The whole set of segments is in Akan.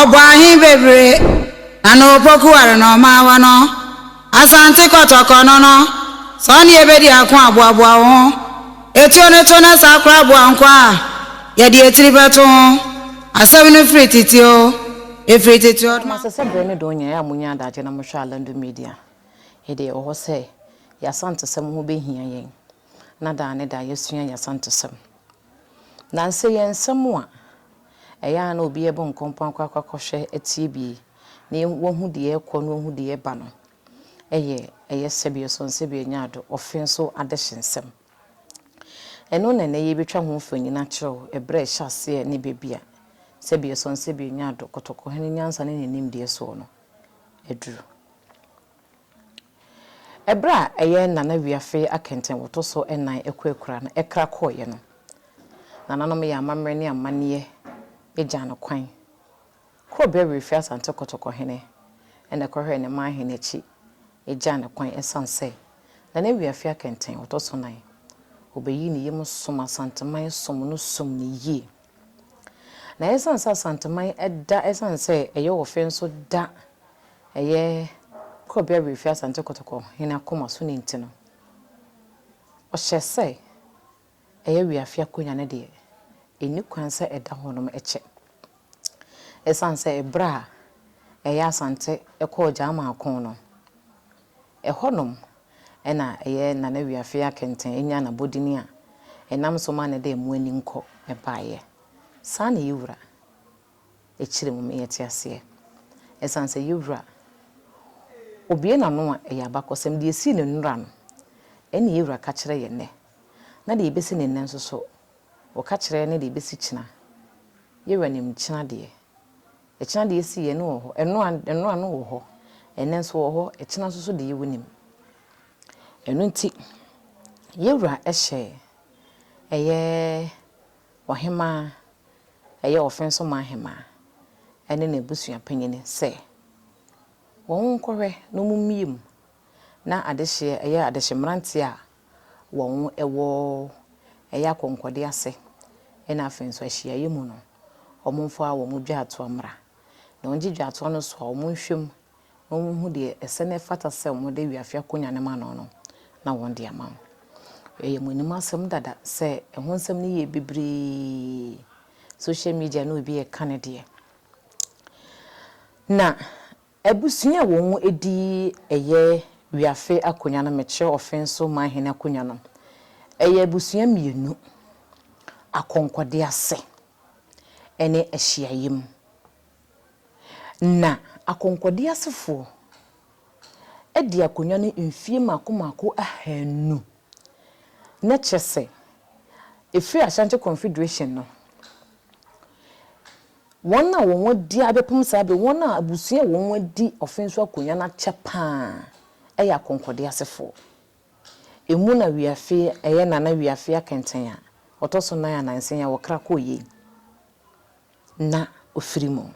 Ɔbɔɔ he bebree, na ne opoku ware na ɔmaa wɔ no. Asante Kɔtɔkɔ no no, sɛ ɔne yɛ bedi ako a, boaboa wo ho. Etuo no to na saa koraa boa nko a, yɛde etiri bɛto ho. Asɛm no firi tete oo, efiri tete Ɔdoma. Anaasɛ sɛ berɛ no dɔn nyinaa a monya adagye na mohwɛ Alando Media a, ɛdeɛ ɛwɔ hɔ sɛ yɛn Asantesɛm ho bɛhia yɛn na daa ne daa yɛasua yɛn Asantesɛm. Nnansa yi nsɛm a ɛyɛ a na obi rebɔ nkɔmpɔn akɔ akɔhwɛ atie bi na wahu deɛ ɛrekɔ na wahu deɛ ɛreba no yɛ ɛyɛ sɛbi ɔsɔn sɛbi ɔnya ado, ɔfe nso adehye nsɛm. Ɛno na ɛnnɛ yɛrebɛtwa ho mfonin akyerɛ wo, ɛberɛ a ɛhyɛ aseɛ ne baabi a sɛbi ɔsɔn sɛbi ɔnya ado, kɔtɔkɔhene nyansa ne ne nimdeɛ soɔ no aduru. Ɛberɛ a ɛyɛ Nana Wiafe akɛntɛnwoto so ɛnan akurakura no ɛkra kɔeɛ no, nananom yɛɛ amammerɛ ne amanneɛ gyaa no kwan. Korɔbea Wiafe Asante Kɔtɔkɔhene na ɛkɔhwɛɛ ne manhene akyi gyaa no kwan ɛsiane sɛ Nana Wiafe akɛntɛnwoto so nan, ɔbɛyii ne yam som Asanteman som no sum no yie. Na ɛsiane sɛ Asanteman da ɛsiane sɛ ɛyɛ wɔ fɛ nso da ɛyɛ Korɔbea Werɛfie Asante Kotoko hene akoma so no nti no, ɔhyɛɛ sɛ ɛyɛ Weafe akonya no deɛ ɛnni kwan sɛ ɛda hɔnom kyɛ. Ɛsiane sɛ ɛberɛ a ɛyɛ Asante kɔɔ Gyaaman ko no, Ɛhɔnom na ɛyɛ Nana Wiafe Akɛntɛn nyaa n'abɔdin a ɛnam so ma ne de Mo Ani Nkɔ baeɛ. Saa na Yewura akyire mu meeɛ te aseɛ. Ɛsiane sɛ Yewura obue n'ano a ɛyɛ abakɔsɛm de ɛsii ne nnora no, ɛne Yewura ka kyerɛ yɛn nnɛ. Na deɛ ɛbɛsi ne nnɛ nso so, ɔka kyerɛ ne deɛ ɛbɛsi kyena. Yewura nim kyena deɛ. Ɛkyena deɛ ɛsii yɛ no wɔ hɔ, ɛno a, ɛno a no wɔ hɔ, ɛnnɛ nso wɔ hɔ, ɛkyena nso so deɛ wonim. Ɛno nti, yɛ Wura hyɛɛ, ɛyɛ Ɔhemaa, ɛyɛ Ɔfensomaa Hemaa, ɛne n'abusua panyini sɛ, wɔn nkɔhwɛ na wɔn mmie mu na adehyeɛ, ɛyɛ adehye mmeranteɛ a wɔwɔ ɛyɛ akɔnkɔde ase ɛna afei nso ahyiaeɛ mu no wɔmfa wɔn dwaatoa mmra na wɔngye dwaatoa no so a wɔnhwɛ mu na wɔnhu deɛ ɛsɛ na ɛfata sɛ wɔde awie afe akonya no ma no no na wɔde ama no. Ɛyɛ mo anim asɛm dada sɛ ɛho nsɛm no yɛ bebree social media no obi ɛka ne deɛ na Abusua a wɔn di yɛ wiafe akonwa no mekyerɛ ɔfe nso man hene akonwa no yɛ abusua mmienu akɔnkɔde ase ne ahyiaeɛ mu na akɔnkɔde asefoɔ di akonwa no mfie mmaako mmaako ahanu na kyerɛ sɛ ɛfiri Ashanti Confederation no Wɔn a wɔn adi abɛpem saa bere, wɔn a abusua a wɔn adi ɔfe nso akonya no akyɛ paa yɛ akɔnkɔde asefoɔ. Emu na Wiafe, ɛyɛ Nana Wiafe Akɛntɛn a ɔtɔ so nan anaa nsia yi a wɔkra kɔɔ yei na ɔfiri mu.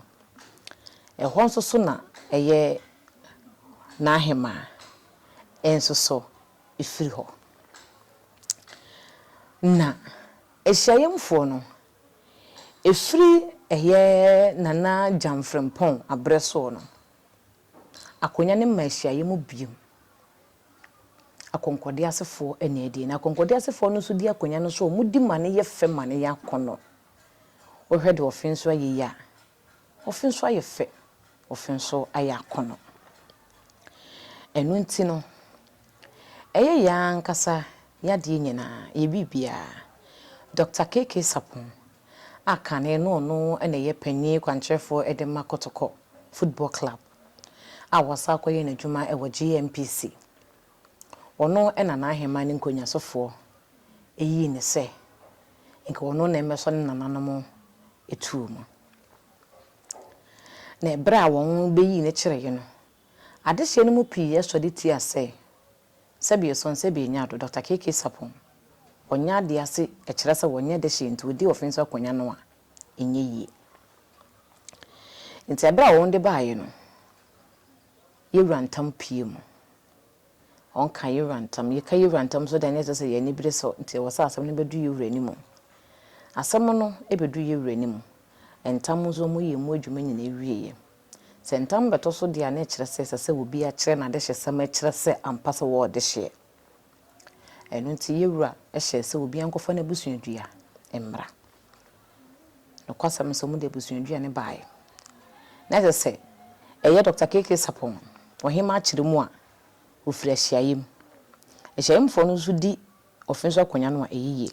Ɛhɔ nso so na ɛyɛ n'ahemaa nso so firi hɔ. Na ahyiayɛmfoɔ no Ɛfiri ɛyɛ Nana Gyamfrempong aberɛ soɔ no, akonnwa no mmaa hyiaeɛ mu bio. Akɔnkɔdeɛ asefoɔ na ɛdie. Na akɔnkɔdeɛ asefoɔ no nso di akonnwa no so a, wɔdi ma no yɛ fɛ ma no yɛ akɔnnɔ. Wohwɛ deɛ ɔfe nso ayɛ yi a, Ofi nso ayɛ fɛ, ofi nso ayɛ akɔnnɔ. Ɛno nti no, ɛyɛ yɛn ara ankasa yɛn adeɛ nyinaa, yɛn biribiara. Dɔkta KK Sarpong a kane no ɔno na ɛyɛ panin kwankyerɛfoɔ de ma Kotoko Football Club a wasan akɔyɛ n'adwuma wɔ GNPC. Ɔno na n'aheman no nkɔnyasofoɔ yii no sɛ nka ɔno na ɛmmɛsɔ ne nananom tuo mu. Na ɛberɛ a wɔn bɛyii no kyereeɛ no, adehyeɛ no mu pii sɔre tiaa sɛ, Sɛbio Song, Sɛbio Nyado, Dɔkta KK Sarpong, wɔnyɛ adeɛ ase kyerɛ sɛ wɔnyɛ dehyeɛ nti wɔdi ɔfe nso akonnwa no a, ɛnyɛ yie. Nti ɛberɛ a wɔn de baeɛ no, Yewura ntam pue mu. Ɔnka yewura ntam. Yeka yewura ntam nso dɛn na ɛsɛ sɛ yɛn ani bere sɔ nti ɛwɔ sɛ asɛm no bɛdu yewura anim? Asɛm no bɛdu yewura anim. Ntam nso wɔyɛ emu adwuma nyinaa awieɛ. Sɛ ntam bɛtɔ so deɛ a na ɛkyerɛ sɛ ɛsɛ sɛ obi akyerɛ n'adehyesɛm akyerɛ sɛ ampa sɛ ɔwɔ ɔdehyeɛ. Ɛno nti yewura hyɛɛ sɛ obiara nkɔfa n'abusuadua mmra. Nokwasɛm no sɛ wɔde abusuaduane baeɛ. Na ɛsɛ sɛ ɛyɛ Dɔkta KK Sarpong, Ɔhema akyeremu a ɔfiri ahyiaeɛm. Ahyiaeɛmfoɔ no nso di ɔfe so akonnwa no a ɛyɛ yie.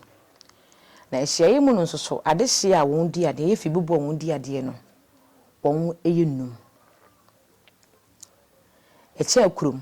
Na ahyiaeɛ mu no nso so adehyeɛ a wɔn di adeɛ, ɛyɛ fi bubu a wɔn di adeɛ no, wɔn yɛ nnum. Ɛkyɛ akurom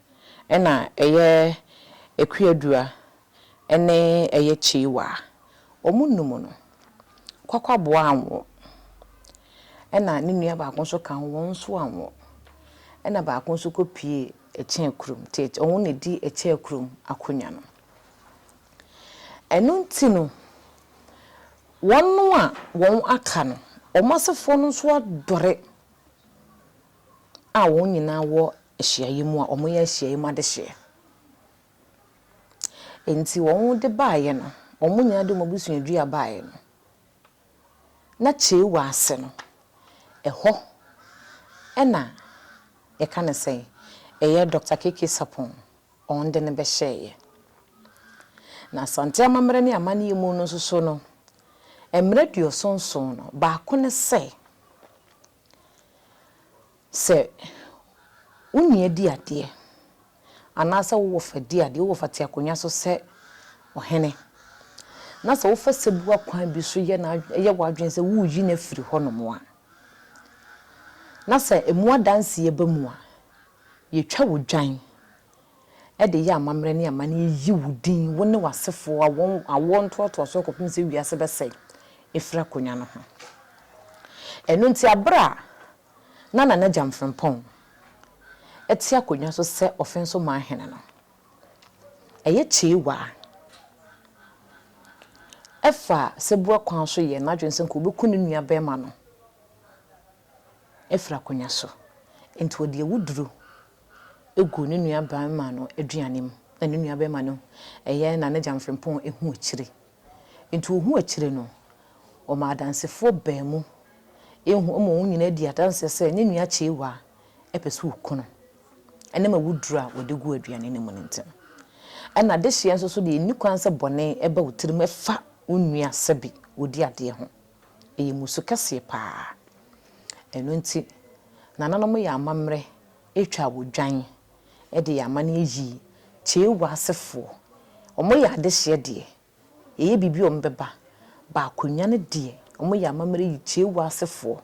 Ɛna ɛyɛ Akuadua ɛne ɛyɛ Kyiwaa. Ɔmo nnum no Kwakwaboa anwo. Ɛna ne nua baako nso ka ho wɔn nso anwo. Ɛna baako nso kɔ pue Ɛkyɛɛ kurom nti ɔno na edi Ɛkyɛɛ kurom akonya no. Ɛno nti no wɔn a wɔn aka no wɔn asefoɔ no nso adɔre. a wɔn nyinaa wɔ ahyiaeɛ mu a wɔyɛ ahyiaeɛ mu adehyeɛ. Enti wɔde baeɛ no, wɔn nyinaa de wɔn abusuadua baeɛ no, na Chewa ase no, ɛhɔ na yɛka no sɛn, ɛyɛ Dɔkta Keke Sarpong wɔn de no bɛhyɛeɛ. Na Asante amammerɛ ne amanneɛ mu no nso so no, mmara aduɔson nson no, baako ne sɛ, Sɛ wo nua di adeɛ, anaasɛ wo wɔfa di adeɛ, wo wɔfa te akonnwa so sɛ ɔhene, na sɛ wofa serebuwa kwan bi so yɛ n'adwene, yɛ w'adwene sɛ woreyi no afiri hɔnom a, na sɛ emu adanseɛ ba mu a, yɛtwa wo dwan de yɛ amammerɛ ne amanneɛ yi wo din, wo ne w'asefoɔ awoɔ awoɔ ntoatoasoɔ kɔpem sɛ wiase bɛsɛe, ɛfiri akonnwa no ho. Ɛno nti, berɛ a na Nana Gyam Frimpong te akonnwa so sɛ Ɔfenso Man Hene no, ɛyɛ kyeewaa fa sɛbua kwan so yɛɛ n'adwene sɛ nka ɔbɛku ne nua barima no afiri akonnwa so, nti ɔde awuduro gu ne nua barima no aduane mu na ne nua barima no yɛ na ne gya mfrempɔn hu akyire nti ɔhu akyire no ɔma adansefoɔ baanu hu ma wɔn nyinaa di adanseɛ sɛ ne nua kyeewa pɛ sɛ ɔku no ɛnam awuduro a ɔde gu aduane no mu no nti no ɛna dehyeɛ nso so deɛ ɛnni kwan sɛ bɔne ɛba wo tirim ɛfa wo nua sɛbe ɔdi adeɛ ho. Ɛyɛ mmusu kɛseɛ pa ara. Ɛno nti, nananom yɛ amammerɛ twaa wɔ dwan de yɛ amanneɛ yii Chewa asefoɔ. Wɔyɛ adehyeɛ deɛ, yɛyɛ biribi a wɔbɛba, ba akonnwa no deɛ, wɔyɛ amammerɛ yi Chewa asefoɔ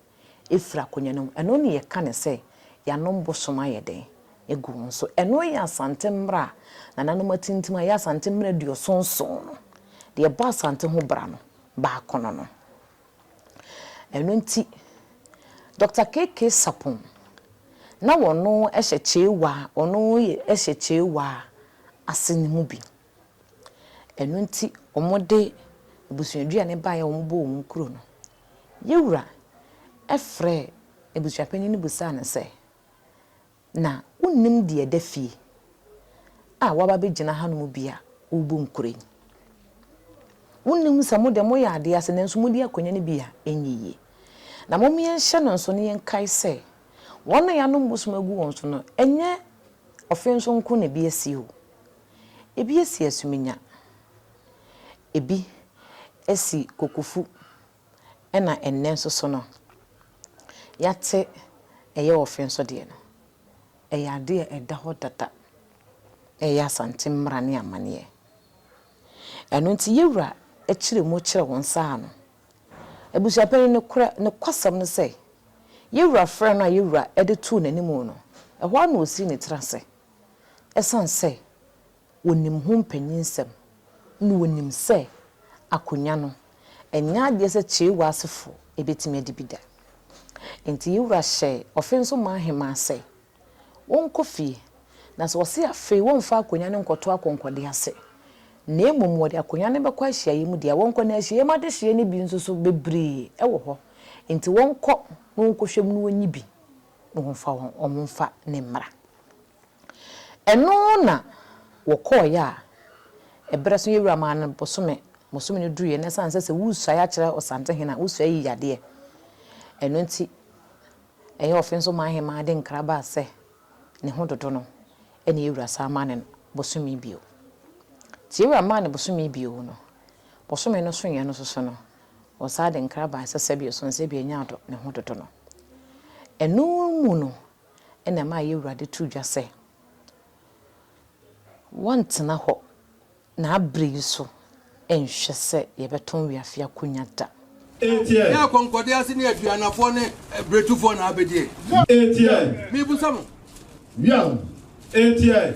firi akonnwa no mu. Ɛno na yɛka no sɛ yɛanom bosom ayɛ dɛn agu wɔn so. Ɛno yɛ Asante mmara a nananom atintim a ɛyɛ Asante mmara aduɔson nson no. Deɛ ɛbɔ Asante ho bra no, baakono no. Ɛno nti, Dɔkta KK. Sarpong na ɔno hyɛ Chewa a ɔno yɛ hyɛ Chewa ase no mu bi. Ɛno nti wɔde abusuaduane baeɛ a wɔbɔɔ wɔn kuro no. Yɛwura frɛɛ abusuapanin no bisaa no sɛ. Na wonnim deɛ ɛda fie a woaba abɛgyina hanom bi a worebɔ nkura yi. Wonnim sɛ mo deɛ moyɛ adeɛ ase nanso modi akonnwa no bi a ɛnyɛ yie. Na mom yɛnhyɛ no nso na yɛnkae sɛ, wɔn a yɛanom bosom agu wɔn so no, ɛnyɛ ɔfe nso nko na ebi asi o. Ebi asi asuminya, ebi asi kokofu. ɛna ɛnnɛ nso so no yɛate ɛyɛ ɔfe nso deɛ no, ɛyɛ adeɛ a ɛda hɔ dada, ɛyɛ Asante mmara ne amaneɛ. Ɛno nti yɛwura kyerɛ mu kyerɛ wɔn saa no, abusuapanin nokorɛ nokwasɛm ne sɛ, yɛwura frɛ no a yɛwura de too n'anim no, ɛhɔ ara na ɔsii ne tiri ase, ɛsiane sɛ Wɔnim ho mpanyinsɛm na wɔnim sɛ akonnwa no, ɛnyɛ adeɛ sɛ Kyeewa asefoɔ bɛtumi adi bi da. Enti yɛn wura hyɛɛ Ɔfenso-Maa Ahemaa sɛ wɔnkɔ fie, na sɛ wɔse afei wɔmfa akonnwa no nkɔto akɔnkɔdeɛ ase, na mmom wɔde akonnwa no bɛkɔ ahyiaeɛ mu deɛ a, wɔnkɔ, na ahyiaeɛ mu adehyeɛ no bi nso so bebree wɔ hɔ, enti wɔnkɔ na wɔnkɔhwɛ mu na wɔnyi bi na wɔmfa wɔn ho mfa ne mmara. Ɛno na wɔkɔeɛ a, ɛberɛ so yɛn Wura maa no bosome, bosome no duruiɛ na ɛsiane sɛ sɛ woresuae akyerɛ Ɔsantehene a, wosuae yi yadeɛ. Ɛno nti, ɛyɛ ɔfe nso maa Ahemaa de nkra baa sɛ ne ho dodo no, ɛna yɛn Wura san maa no bosome bio. Nti yɛn Wura maa no bosome bio no, bosome no soeɛ no soso no, wɔsan de nkra baa sɛ sɛbio so no sɛbio ɛnyɛ adɔ ne ho dodo no. Ɛno mu no ɛna ɛma yɛ Awurade to dwa sɛ, Wɔntena hɔ na abre yi so nhwɛ sɛ yɛbɛtɔn wiafe akonya da. Etie! Yɛ akɔnkɔdeɛ ase ne aduanafoɔ ne bretufɔɔ na abedie. Etie! Mebisa mo. Wiam! Etie!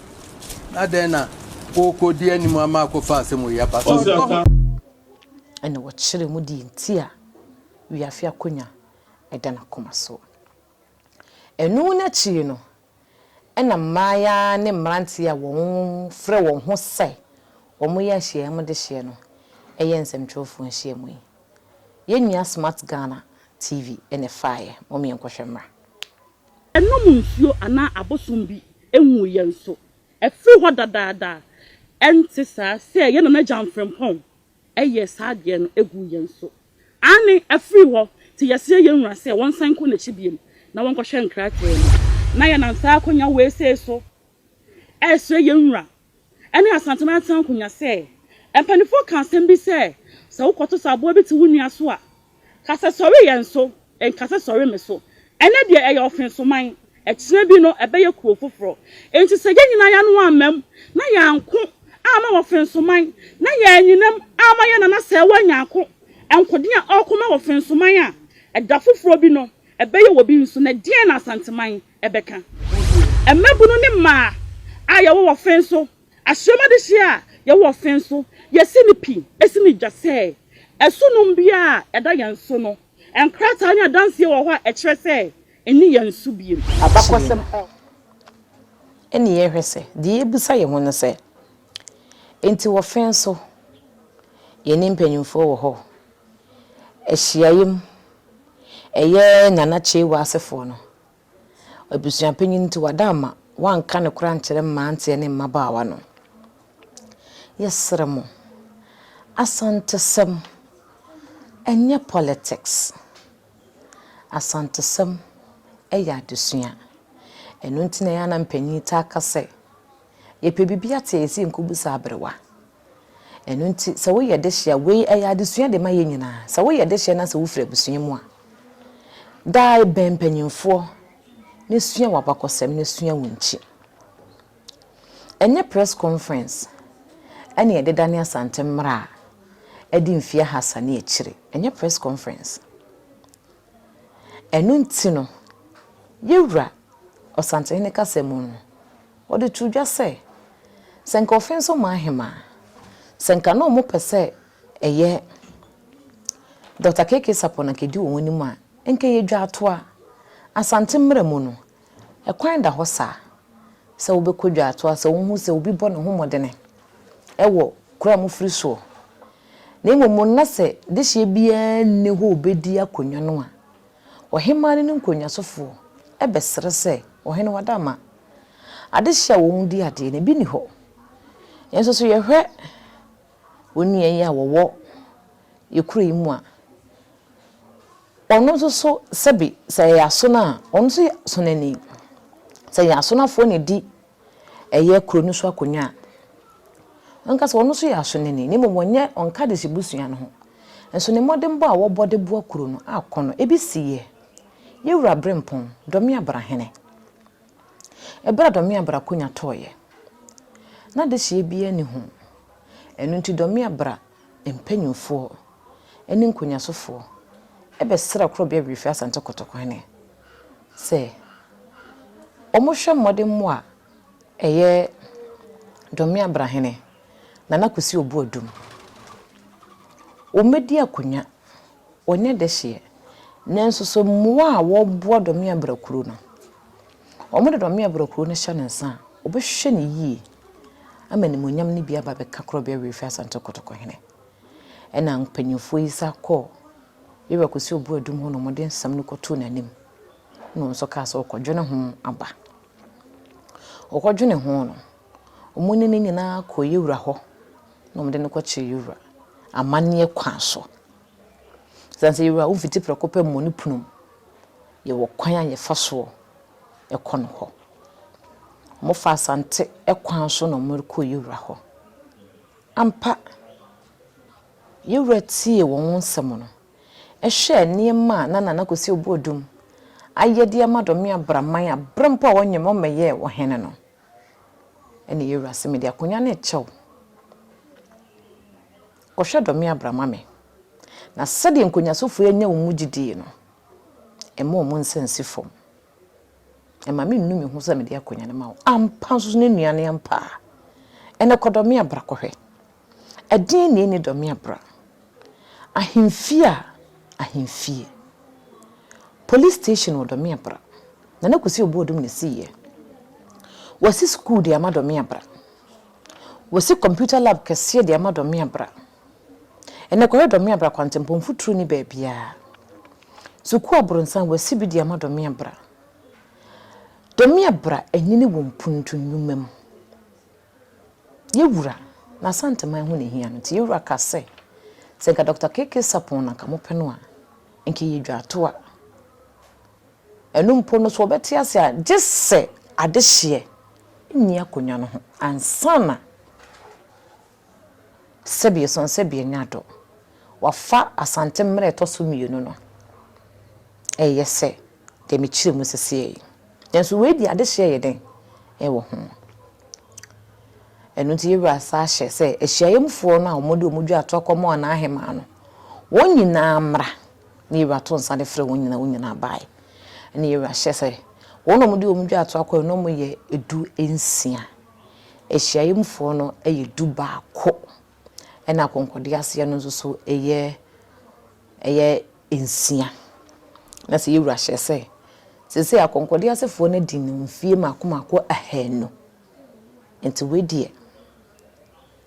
na dɛn na wɔkɔ di anim ama akɔfa asɛm wɔ yi aba so. Ɛna wɔkyerɛ mu deɛ nti a wiafe akonya da n'akoma so. Ɛno no akyire no, ɛna mmaayaa ne mmeranteɛ a wɔfrɛ wɔn ho sɛ wɔyɛ nhyiamu dehyeɛ no yɛ nsɛmtwerɛfoɔ nhyiamu yi. Yɛn nua Smart Ghana TV na ɛfaaeɛ, mom yɛnkɔhwɛ mmra. Ɛnnom nsuo anaa abosom bi nhuu yɛn so. Ɛfiri hɔ dadaada a, ɛnte saa sɛ yɛn nana Gyan Frimpong yɛɛ saa adeɛ no guu yɛn so? Aane, ɛfiri hɔ te yɛsrɛ yɛn wura sɛ wɔnsan nkɔ n'akyi biom na wɔnkɔhwɛ nkrakraa mu. Na yɛnam saa akwanya wei sei so resrɛ yɛn wura ɛne Asante Mantam Nkonwa sɛ, Mpaninfoɔ ka asɛm bi sɛ, sɛ wo kɔto sɛ aboa bi te wo nua so a, ka sɛ sɔre yɛn so, nka sɛ sɔre me so. Ɛnɛ deɛ ɛyɛ ɔfensoman, ɛkyena bi no ɛbɛyɛ kuro foforɔ. Enti sɛ yɛn nyinaa y'ano ammam na y'anko amma ɔfensoman, na y'anyinam amma yɛn nana Sɛɛwa Nyarko nkoden a ɔreko ma ɔfensoman a, ɛda foforɔ bi no ɛbɛyɛ wɔ bi nso. Na ɛdeɛn na Asanteman ɛbɛka. Mmabunu ne mmaa a yɛwɔ wɔ fen so ahyiam adehyeɛ a yɛwɔ wɔ fen so yɛsi no pi si no dwa sɛ ɛso nom biara a ɛda yɛn so no nkrataa ne adanseɛ wɔ hɔ a ɛkyerɛ sɛ ɛnni yɛn so bio. Abakɔsɛm a ɛne yɛhwɛ sɛ deɛ yɛbisa yɛn ho no sɛ, Enti wɔ fen so yɛne mpanimfoɔ wɔ hɔ ahyiaeɛ mu ɛyɛ Nana Kyeiwa asefoɔ no Abusua panyin nti, wada ama wɔanka no koraa ankyerɛ mmeranteɛ ne mmabaawa no. Yɛsrɛ mo, Asantesɛm nyɛ politics. Asantesɛm yɛ adesua. Ɛno nti na ɛyɛ a na mpanyin taa ka sɛ, Yɛpɛ biribi ate a, yɛsɛ yɛnkɔbu saa aberewa. Ɛno nti, sɛ woyɛ dehye a, wei ɛyɛ adesua de ma yɛn nyinaa. Sɛ woyɛ dehye na sɛ wofiri abusua mu a, daa bɛn mpanimfoɔ na sua wɔn abakɔsɛm na sua wɔn akyi. Ɛnyɛ press conference ɛna yɛde dane Asante mmara a ɛdi mfeɛ ahasa ne akyire. Ɛnyɛ press conference. Ɛno nti no, yɛwura Ɔsantehene kasa mu no, Ɔde too dwa sɛ, Sɛ nka ɔfe nso maa Hema a, sɛ nka na wɔpɛ sɛ ɛyɛ Dɔkta KK Sarpong na nka edi wɔn anim a, nka ɛyɛ dwaatoa. Asante mmara mu no, ɛkwan da hɔ saa sɛ wobɛkɔ dwaatoa sɛ wohu sɛ obi bɔ ne ho mmɔdene wɔ kuro a mofiri soɔ, na mmom na sɛ dehyeɛ biara nni hɔ a ɔbɛdi akonnwa no a. Ɔhemmaa ne ne nkonnwasofoɔ bɛsrɛ sɛ, Ɔhene, w'ada ma adehye a wɔn di adeɛ no, ebi nni hɔ. Yɛn nso so yɛhwɛ wo nua yi a wɔwɔ yɛn kuro yi mu a, ɔno nso so sɛbe sɛ ɛyɛ asono a, ɔno nso yɛ asonani. Sɛ ɛyɛ asonafoɔ na ɛdi ɛyɛ kuro no so akonnwa a, ɔnka sɛ ɔno nso yɛ asoneni, na mmom ɔnyɛ, ɔnka de hyɛ busua no ho. Nso ne mmɔdenbɔ a wɔbɔ de boa kuro no akɔ no, ebi si yɛ. Yewura Brempong, Dɔme Abra hene. Ɛberɛ a Dɔme Abra akonya tɔeɛ, na dehyeɛ biara nni ho. Ɛno nti Dɔme Abra mpanyinfoɔ ne nkonyasofoɔ bɛsrɛ korɔbea wiefi Asante Kotoko hene. sɛ wɔhwɛ mmɔdemmɔ a ɛyɛ Dome Abrahene Nana Kwesi Obuadum, wɔadi akonnwa, wɔanya dehyeɛ, nanso sɛ mmoa a wɔboa Dome Abrakuro no, wɔde Dome Abrakuro no hyɛ ne nsa a, wɔbɛhwɛ no yie ama animuonyam no bi aba abɛka Korɔbea Wiefiasante Kotoko Hene. Ɛnna mpanyimfoɔ yi san kɔɔ Yehowa kɔsi ɔbo adum hɔ na wɔde nsɛm no kɔtoo n'anim. Ɛnna wɔn nso kaa sɛ, Ɔkɔdwene ho aba. Ɔkɔdwenee ho no, wɔne no nyinaa kɔɔ Yewura hɔ na wɔde no kɔkyerɛɛ Yewura amanneɛ kwan so. Ɛsiane sɛ Yewura womfiti prɛko pɛ mmɔ ne pono mu, yɛwɔ kwan a yɛfa soɔ kɔ no hɔ. Wɔfaa Asante kwan so na wɔrekɔ Yewura hɔ. Ampa, yɛn Wura tiee wɔn nsɛm no, hwɛɛ nneɛma a na Nana Kwesi Obuodum ayɛ de ama Dɔme Abraman a bere mpo a ɔnyem ɔmmɛyɛɛ Ɔhene no. Ɛnna yɛn Wura se, Mede akonya no rekyɛ wo. Kɔhwɛ Dɔme Abra ma me, na sɛdeɛ nkonyasofo yi anya wo mu gyidie no, mma wɔn nsa nsi fam. Mma mennu me ho sɛ mede akonya no ma wo. Ampa nso ne nnuane ampa a, ɛnɛ kɔ dɔ me abra kɔhwɛ. Ɛdeɛn na ɛnni dɔ me abra? Ahemfie a ahemfie. Police station wɔ dɔ me abra. Nana Kwesi Obuodum na ɛsiiɛ. Wɔasi sukuu de ama dɔ me abra. Wɔasi computer lab kɛseɛ de ama dɔ me abra. Ɛnnɛ kɔhwɛ Dɔmeabra kwantempɔn mfuturo nni baabiara. Sukuu aborosan wɔasi bi de ama Dɔmeabra. Dɔmeabra anyini wɔ mpuntu nnwuma mu. Yɛwura na Asanteman ho na ɛhia no nti yɛwura ka sɛ, sɛ nka Dɔkta KK Sarpong na nka mopɛ no a, nka ɛyɛ dwaatoa. Ɛno mpo no so wɔbɛte ase a gye sɛ adehyeɛ nni akonnwa no ho ansa na. sɛbi sɔn sɛbi nya do. Wɔafa Asante mmara a ɛtɔ so mmienu no reyɛ sɛ deɛ mekyerɛ mu seseɛ yi. Nanso wei deɛ adehyeɛ yɛ dɛn wɔ ho. Ɛno nti yɛn wura san ahyɛ sɛ ahyiaeɛ mufoɔ no a wɔde wɔn dwa toa kɔma wɔn ahemaa no, wɔn nyinaa mmra na yɛn wura to nsa de frɛ wɔn nyinaa, wɔn nyinaa baeɛ. Ɛnna yɛn wura hyɛ sɛ wɔn a wɔde wɔn dwa toa kɔeɛ no wɔyɛ du nsia. Ahyiaeɛmfoɔ no yɛ du baako ɛna akɔnkɔdeɛ aseɛ no nso so yɛ ɛyɛ nsia. Na sɛ yɛwura hyɛ sɛ, seesei akɔnkɔdeɛ asefoɔ no adi no mfie mmaako mmaako ahaanu. Nti wei deɛ,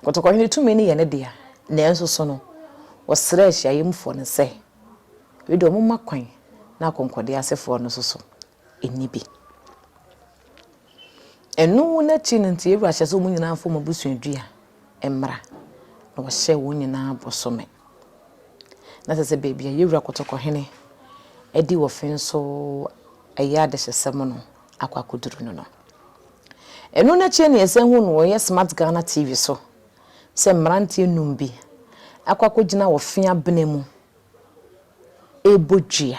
Kɔtɔkɔhene tumi no yɛ ne dea, nanso so no, ɔsrɛɛ ahyiaeɛmfoɔ no sɛ, wei deɛ wɔmma kwan na akɔnkɔdeɛ asefoɔ no nso so nni bi. Ɛno no akyi no nti Yewura hyɛɛ sɛ wɔn nyinaa mfa wɔn abusuadua mmra, na wɔhyɛɛ wɔn nyinaa bosome. Na sɛ sɛ baabi a Yewura Kɔtɔkɔhene adi wɔfe nso ɛyɛ adehyesɛm no akɔ akɔduru no no. Ɛno no akyi ne yɛsan hu no wɔyɛ Smart Ghana TV so sɛ mmeranteɛ num bi akɔ akɔgyina wɔfe abena mu ɛrebɔ dua.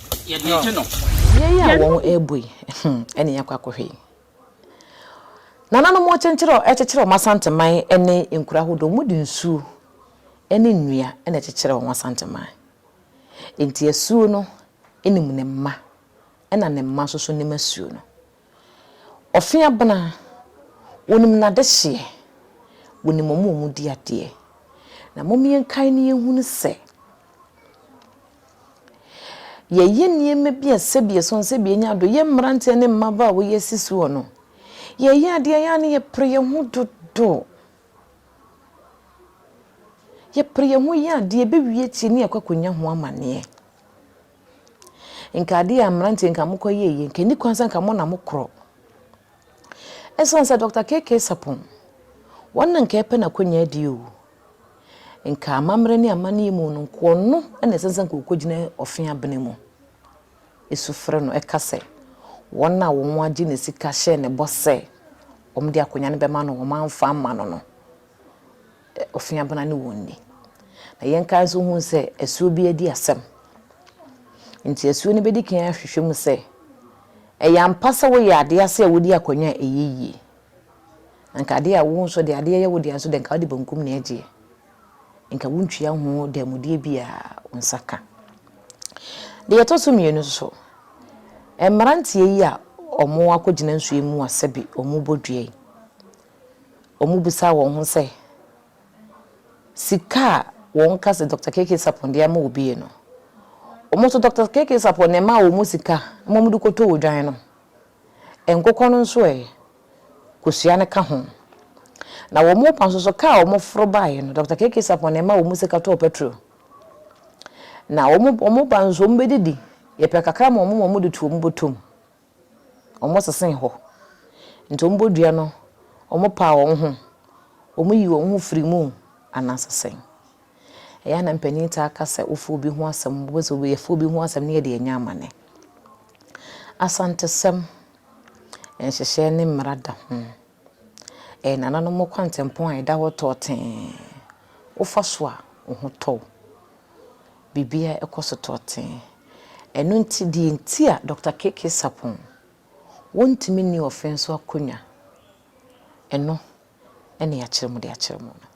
Beae yi a wɔrebɔ yi na yɛakɔ akɔhwɛ yi. Nananom kyekyere wɔn Asanteman ne nkuro ahodoɔ, wɔde nsuo ne nnua na ɛkyekyere wɔn Asanteman. Nti asuo no nim ne mma na ne mma nso nim asuo no. Ɔfe abena, wɔnim n'adehyeɛ, wɔnim wɔn a wɔdi adeɛ. Na mom yɛnkae na yɛnhunu sɛ, yɛyɛ nneɛma bi a sɛbi ɛsɛ no sɛbi yɛnya do, yɛ mmeranteɛ ne mmabaa a wɔyɛ asi soɔ no, yɛyɛ adeɛ a yɛ a na yɛpere yɛn ho dodo. Yɛpere yɛn ho yɛ adeɛ, ɛbɛwie akyire na yɛakɔ akɔnya ho amanneɛ. Nka ade a mmeranteɛ nka mokɔyɛɛ yie, nka ɛni kwan sɛ nka mo na mokorɔ. Ɛsiane sɛ Dɔkta KK Sarpong, wɔn na nka ɛrepɛ n'akonnwa adie o, nka amammerɛ ne amanneɛ mu no, nka ɔno na ɛsɛ sɛ nka ɔkɔgyina ɔfe abena mu. Ɛsu frɛ no, ɛka sɛ, wɔn a wɔagye ne sika hyɛɛ ne bɔ sɛ wɔde akonnwa no bɛma no, wɔamfa amma no no, ofiabena ne wɔn nni. Na yɛn nka nso hu sɛ asuo bi adi asɛm. Nti asuo no bɛdi kan ahwehwɛ mu sɛ, ɛyɛ ampa sɛ woyɛ adeɛ ase a wodi akwannya a ɛyɛ yie? Na nka adeɛ a wo nso deɛ adeɛ yɛ wo deɛ nso deɛ nka wode bankum na ɛgyeɛ. Nka wontua ho dɛmudeɛ bi a wo nsa ka. Deɛ ɛtɔ so mmienu nso, mmeranteɛ yi a wɔakɔgyina nsuo mu a sɛbe wɔbɔ dua yi, wɔbisaa wɔn ho sɛ, Sika a wɔka sɛ Dɔkta KK. Sarpong de ama obi yi no, wɔn nso Dɔkta KK. Sarpong na ɛmaa wɔn sika ma wɔde kɔtɔɔ odwan no? Nkokɔ no nso ɛ? Kosua no ka ho. Na wɔn mma nso so, kaa a wɔforo baeɛ no, Dɔkta KK. Sarpong na ɛmaa wɔn sika tɔɔ pɛtro. Na wɔn mma nso, wɔbɛdidi, yɛpɛ kakra ma wɔn ma wɔde to wɔn bɔtɔ mu. wɔsesee hɔ. Nti wɔn bɔ dua no, wɔn paa wɔn ho, wɔn yi wɔn ho firi mu anaasɛ sɛn? Ɛyɛ a na mpanin taa ka sɛ wofa obi ho asɛm, wobɛ sɛ obi yɛfa obi ho asɛm ne yɛde anya amane. Asantesɛm, nhyehyɛɛ ne mmara da ho. Ɛyɛ nananom kwantempɔn a ɛda hɔ tɔɔ tee. Wofa so a, wo ho tɔ wo. Biribiara ɛkɔ so tɔɔ tee. Ɛno nti, deɛ nti a Dɔkta KK. Sarpong wɔntumi nni ɔfɛn so akonnwa, ɛno na yɛakyerɛ mu de akyerɛ mo no.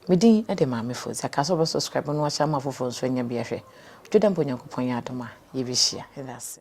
Me din de Maame Fodzi. Aka sɛ wobɛ subscribe no wahyɛ ama afoforɔ nso anya bi ahwɛ. Dwo dɛ mpo Nyankopɔn yɛ adom a, yɛbɛhyia. Yɛda ase.